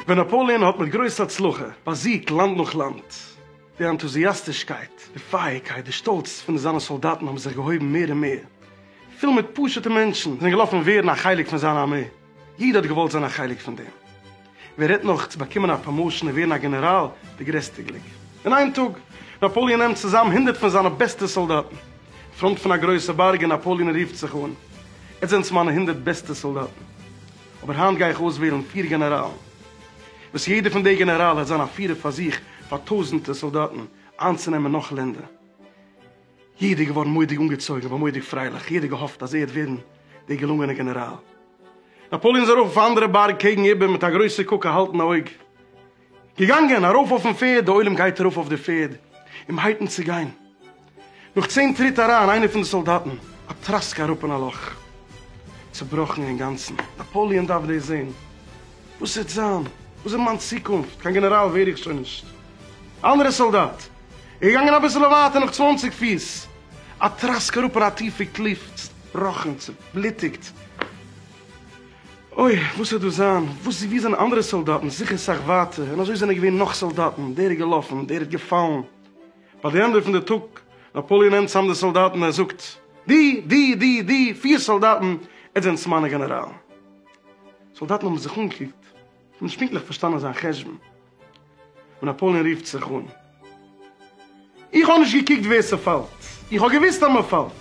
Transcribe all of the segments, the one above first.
ווען נאפאלעאן האט מיט גרויס הצלחה באזיגט לאנד נאך לאנד, די ענטוזיאסטישקייט, די פייערקייט, די שטאלץ פון זיינע סאלדאטן האבן זיך געהויבן מער און מער. פיל מיט פשוט'ע מענטשן זענען געלאפן ווערן א חלק פון זיין ארמעי. יעדער האט געוואלט זיין א חלק פון דעם, ווער רעדט נאך צו באקומען א פראמאושען און ווערן א גענעראל, די גרעסטע גליק אין איין טאג. נאפאליען נעמט צוזאם הונדערט פון זיינע בעסטע סאלדאטן אין פראנט פון א גרויסע בארג און נאפאליען רופט זיך אן, עטס זענטס מיינע הונדערט בעסטע סאלדאטן, אבער היינט גיי איך אויסוועלן פיר גענעראלן, וואס יעדער פון די גענעראלן העט זיין א פירער פאר זיך, פאר טויזענטער סאלדאטן איינצונעמען נאך לענדער. יעדער איז געווארן מודיג אנגעצויגן און מודיג פרייליך, יעדער האט געהאפט אז ער וועט ווערן דער געלונגענער גענעראל. נאפאליאן איז ארויף אויף א אנדערע בארג קעגן איבער מיט א גרויסע קוק א האלטן אויג. געגאנגען ארויף אויפן פערד, דער עולם גייט ארויף אויף די פערד אים הייטן צו גיין. נאך צען טריט אריין איינער פון די סאלדאטן, א טראסק אראפ אין א לאך. צובראכן אינגאנצן. נאפאליאן דארף דאס זען. וואס וועט זיין? וואס איז מיין צוקונפט? קיין גענעראל ווער איך שוין נישט. אנדערע סאלדאט איז געגאנגען אביסעלע ווייטער נאך צוואנציג פיס א טראסק אראפ און א טיפע קליף צובראכן צובליטיגט. אוי וואס וועט דא זיין וואס איז ווי זענען אנדערע סאלדאטן זיכער סאך ווייטער און אזוי זענען געווען נאך סאלדאטן דער איז געלאפן דער איז געפאלן ביי די ענדע פון די טאג נאפאליען נעמט צאם די סאלדאטן ער זאגט די די די די פיר סאלדאטן עטס זענטס מיינע גענעראלן סאלדאטן האבן זיך אנגעקוקט. כ'האב נישט פונקטליך פארשטאנען זיין חשבון ווען נאפאלען רופט זיך אן. איך האב נישט געקוקט ווער ס'פאלט, איך האב געוואוסט אז מ'פאלט.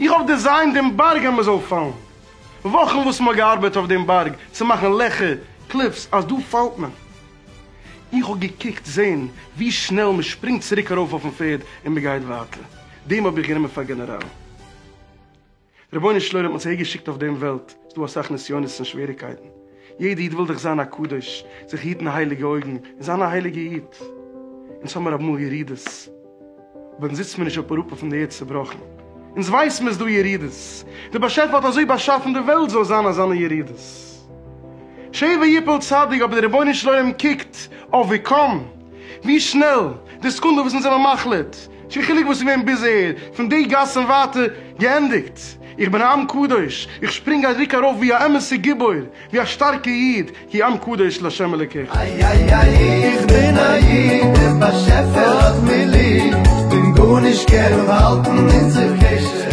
איך האב דעזיינט דעם בארג אז מ'זאל פאלן. וואכן וואס מ'האט געארבעט אויף דעם בארג צו מאכן לעכער, קליפס, אז דא פאלט מען. איך האב געקוקט זען ווי שנעל מ'שפרינגט צוריק ארויף אויפן פערד און מ'גייט ווייטער. דעם האב איך גענומען פאר גענעראל. רבונו של עולם האט זיי געשיקט אויף דעם וועלט, ס'איז דא אסאך נסיונות און שוועריקייטן, יעדע איד וויל דאך זיין א קדוש, זיך היטן הייליגע אויגן, און זיין א הייליגע איד, אונז האמיר אמאל ירידות, אבער אונז זיצט מיר נישט אויף אראפ אויפן ערד צובראכן, אונז ווייסט מען איז דא ירידות, דער באשעפער האט אזוי באשאפן די וועלט זאל זיין אזאנע ירידות, שבע יפול צדיק, אבער דער רבונו של עולם קוקט אויף ווי קאם. ווי שנעל, די סעקונדע וואס אונז זעמער מחליט, נישט קיין חילוק וואס איז געווען ביז אהער, פון די גאס און ווייטער, געענדיגט. איך בין א עם קדוש, איך שפרינג א ריק ארויף ווי א אמת'ע גיבור, ווי א שטארקע איד, כי עם קדוש לה' אלקיך. איי איי איי איך בין א איד, דער באשעפער האט מיר ליב, כ'בין גארנישט קער און האלטן אונזער קשר.